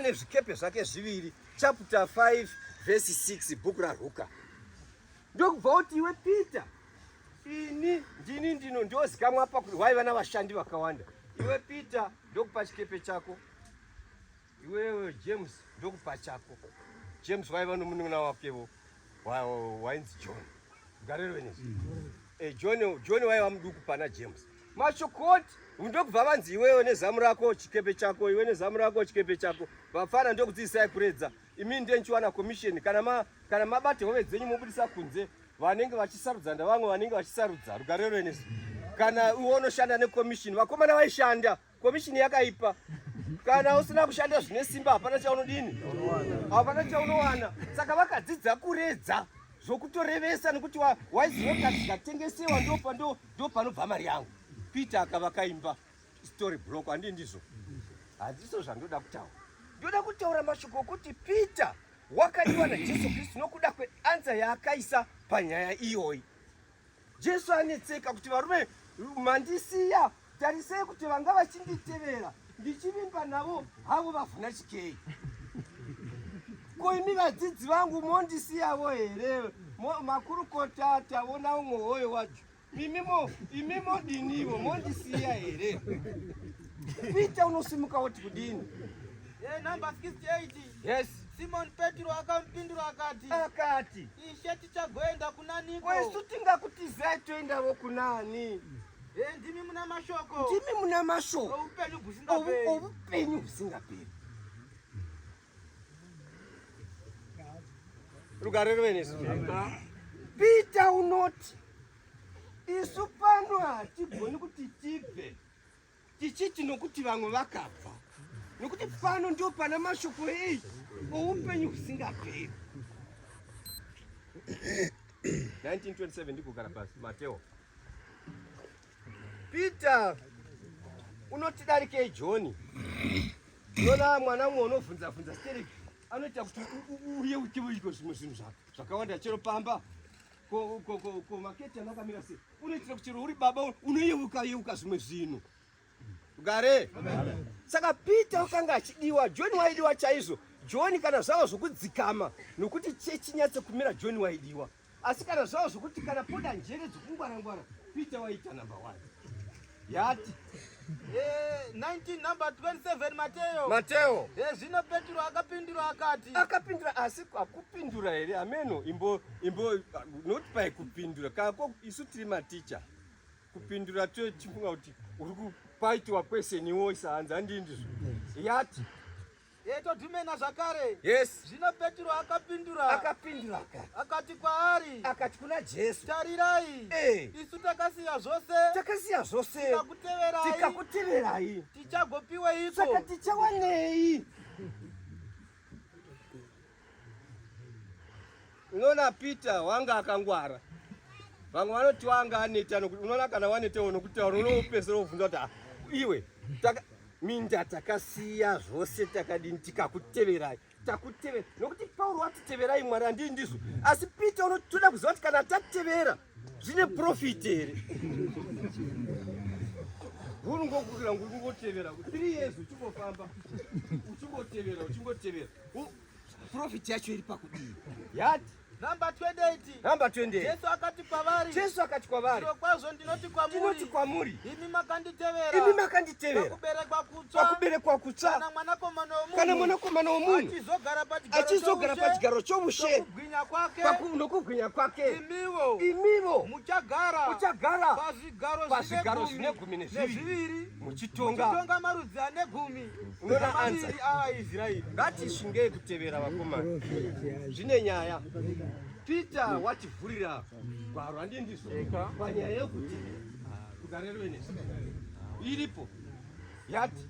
ane zvikepe zvake zviviri chapter 5 verse 6 bhuku raruka ndokubva kuti iwe peter ini ndini ndino ndiozikamwa apa kuti waiva navashandi vakawanda iwe peter ndokupa chikepe chako iwewe james ndokupa chako james waiva nomunun'una wakevo wainzi john garero venizvi mm. eh, john john waiva muduku pana james mashokoti ndokubva vanzi iwewe nezamu rako chikepe chako iwe nezamu rako chikepe chako vafana ndokudziisai kuredza imini ndiye ndichiwana commission kana ma, kana mabate hove dzenyu mobudisa kunze vanenge vachisarudza ndavamwe vanenge vachisarudza rugarero inizvi kana iwe unoshanda necommission vakomana vaishanda Komishini yakaipa. Kana usina kushanda zvine simba hapana chaunodini. Hapana chaunowana. Saka vakadzidza kuredza zvokutorevesa nekuti waiziva kuti zvikatengesewa ndo panobva mari yangu. Peter akava kaimba story block handi ndizvo. Handiso zvandoda kutaura. Ndoda kutaura mashoko okuti Peter wakadiwa naJesu Kristu nokuda kweansa yaakaisa panyaya iyoyi. Jesu anetseka kuti varume mandisiya tarisei kuti vanga vachinditevera ndichivimba navo havo vavhuna chikei ko imi vadzidzi vangu mondisiyavo here makurukota tavona umwe hoyo wacho imimo imimo dinivo mondisiya here pita unosimuka woti kudini eh, yes simon petro akamupindura akati akati Tichagoenda kuna niko? Kwesu tingakutizai toendavo kunani? Eh, ndimi muna mashoko. Ndimi muna mashoko. Oupenyu husingaperi. Oupenyu husingaperi. Rugare ruve nesu. Peter unoti isu pano hatigoni kuti tibve Tichiti nokuti vamwe vakabva, nokuti pano ndio pana mashoko eyi oupenyu husingaperi. 1927 ndikugara pasi Mateo. Peter unotidarikei John? Nona mwana umwe unovhunza vhunza stereki anoita kuti uye utivo iko zvimwe zvinhu zvakawanda chero pamba Ko ko ko ko maketi anakamira sei? Unoitira kuti uri baba unoyeuka yeuka zvimwe zvinhu. Gare. Saka Peter akanga achidiwa, John waidiwa chaizvo. John kana zvavo zvokudzikama nokuti chechi nyatse kumira John waidiwa. Asi kana zvavo zvokuti kana poda njere dzokungwara ngwara Peter waita number 1. yati eh, 19 number 27 Mateo Mateo eh, zvino Petro akapindura akati akapindura asi akupindura here ameno imbo imbo not by kupindura kako isu tiri maticha kupindura tochifunga kuti uri kupaitiwa kwese niwo isahanza ndindizvo yati Ye todhumena zvakare. Yes. Zvino Petro akapindura. Akapindura aka. Akati kwaari. Akati kuna Jesu. Tarirai. Eh. Isu takasiya zvose. Takasiya zvose. Tikakuteverai. Tikakuteverai. Tichagopiweiko? Saka tichawanei? Unoona Peter wanga akangwara. Vamwe vanoti wanga aneta nokuti unoona kana waneta iwe nokutaura unopedzisira wobvunza kuti ah, iwe taka minda takasiya zvose takadini tikakuteverai takutevera nokuti Pauro watiteverai Mwari andii ndizvo asi Peter unotoda kuziva kuti kana tatevera zvine profit here huru ngokukira nguri kungotevera three years uchingofamba uchingotevera uchingotevera profit yacho iri pakudii yati Number 28. Number 28. Jesu akati kwavari. Jesu akati kwavari. Zvirokwazvo ndinoti kwamuri. Ndinoti kwamuri. Imi makanditevera. Imi makanditevera. Pakuberekwa kutsva. Pakuberekwa kutsva. Kana mwanakomana womunhu. Kana mwanakomana womunhu. Achizogara pachigaro chomugara pachigaro chomushe. Kubwinya kwake. Paku, nokubwinya kwake. Imivo. Imivo. Muchagara. Muchagara. Pazvigaro, pazvigaro zvine gumi nezviviri. Muchitonga. Muchitonga marudzi ane gumi. Unoona anza. Aisraeri. Ngatishingei kutevera vakomana. Zvine nyaya. Peter wativhurira gwaro handii ndizvo panyaya yekuti kugarero iripo yati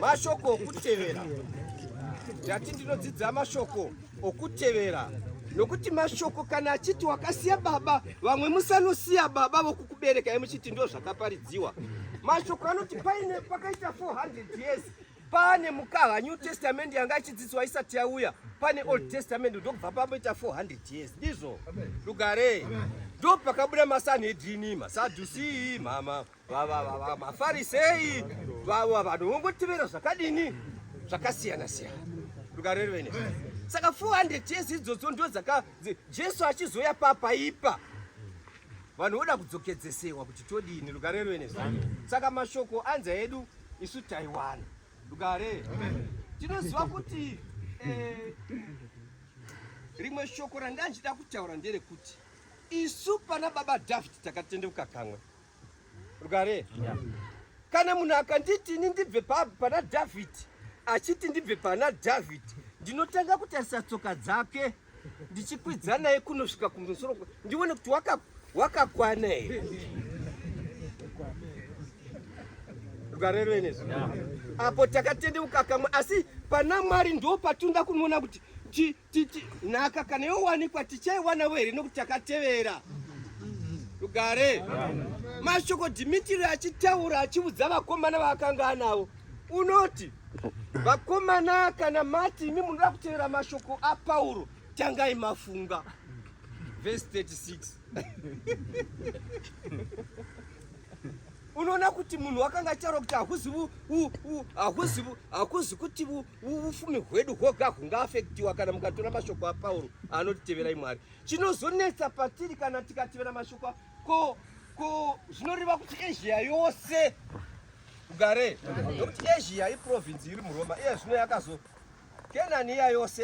mashoko okutevera ndati ndinodzidza mashoko okutevera nokuti mashoko kana achiti wakasiya baba vamwe musanosiya baba vokukuberekai muchiti ndo zvakaparidziwa mashoko anoti paine pakaita 400 years Pane mukava New Testament yanga ichidzidzwa isati yauya, pane Old Testament ndokubva pamoita 400 years. Ndizvo lugare ndo pakabuda masanhedrini masadhusi mama mafarisei vava vanhu vongotevera zvakadini zvakasiyana siyana rukareri vene saka 400 years idzodzo ndo dzaka jesu achizoya papaipa vanhu voda kudzokedzesehwa kuti todini rukareri vene saka mashoko anza edu isu taiwana rugare tinoziva kuti eh, rimwe shoko ranga ndichida kutaura nderekuti isu pana baba david takatendeuka kamwe rugare kana munhu akanditi ini ndibve pana david achiti ndibve pana david ndinotanga kutarisa tsoka dzake ndichikwidza naye kunosvika kumusoro ndione kuti wakakwana here rwareroenezvo apo takatendeuka kamwe asi pana mwari ndo patinoda kunoona kuti nhaka kana yowanikwa tichaiwanavo here nokuti takatevera rugare mashoko dhimitiri achitaura achiudza vakomana vaakanga anavo unoti vakomana kana mati imi munoda kutevera mashoko apauro tangai mafunga vhesi 36 unoona kuti munhu wakanga achitaura kuti hakuzi kuti ufumi hwedu hwoga hungaafektiwa kana mukatora mashoko apauro anotiteverai mwari chinozonetsa patiri kana tikatevera mashoko ko ko zvinoreva kuti asia yose ugare nokuti asia iprovince iri muroma iye zvino yakazo kenani iya yose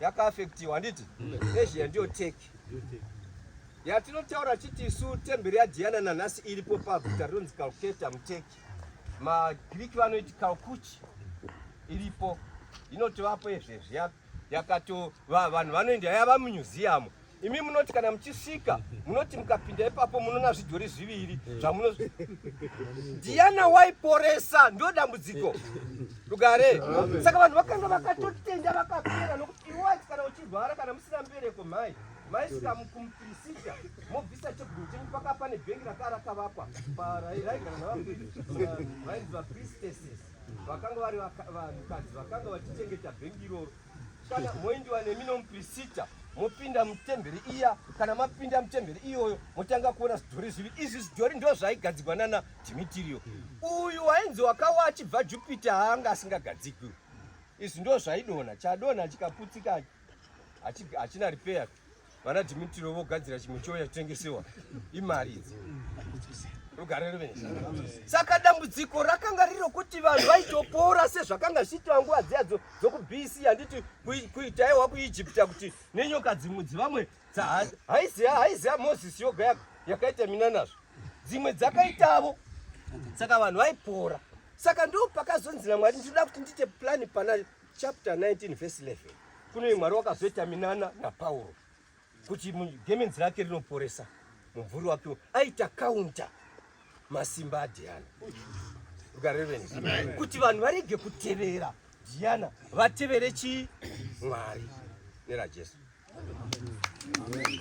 yakaafektiwa handiti asia ndiyo teki yatinotaura chiti isu temberi yadhiana nanhasi iripo paguta rinonzi kalketa muteki magreek vanoiti kalkuchi iripo inotovapo izvezvi yakato vanhu vanoenda yava mumyuziyamu imi munoti kana muchisvika munoti mukapinda ipapo munoona zvidhori zviviri zvamuno diana waiporesa ndo dambudziko rugare saka vanhu vakanga vakatotenda vakapera nokuti iwati kana uchirwara kana musina mbereko mhai maisvika kumupirisita mobvisa cheguru chenyu paka pane bhengi raka rakavakwa parairaigara navainzi vapristeses vakanga vari vanhukadzi vakanga vachichengeta bhengi iroro Kana moindiwa nemi nomuprisita mopinda mutemberi iya kana mapinda mutemberi iyoyo motanga kuona zvidhori zvivi izvi zvidhori ndo zvaigadzigwa nana dhimitirio uyu wainzi wakawa achibva jupita haanga asingagadzigwi izvi ndo zvaidonha chadonha chikaputsika hachina repair vana dhimitiro vogadzira chimwe chiyo chatotengesewa imari idzi saka dambudziko rakanga riro kuti vanhu vaitopora sezvakanga zvichiitwa nguva dziya dzokubc handiti kuitaiwa kuijipita kuti nenyoka dzimwe dzivamwe haiziva moses yoga yakaita mina nazvo dzimwe dzakaitavo saka vanhu vaipora saka ndo pakazonzi namwari ndinoda kuti ndiite plani pana chapter 19 verse 11 kuno imwari wakazoita minana napauro kuti gemenzi rake rinoporesa mumvuri wake aita kaunta masimba adhiana ukareveni kuti vanhu varege kutevera dhiana vatevere chii mwari nerajesu Amen.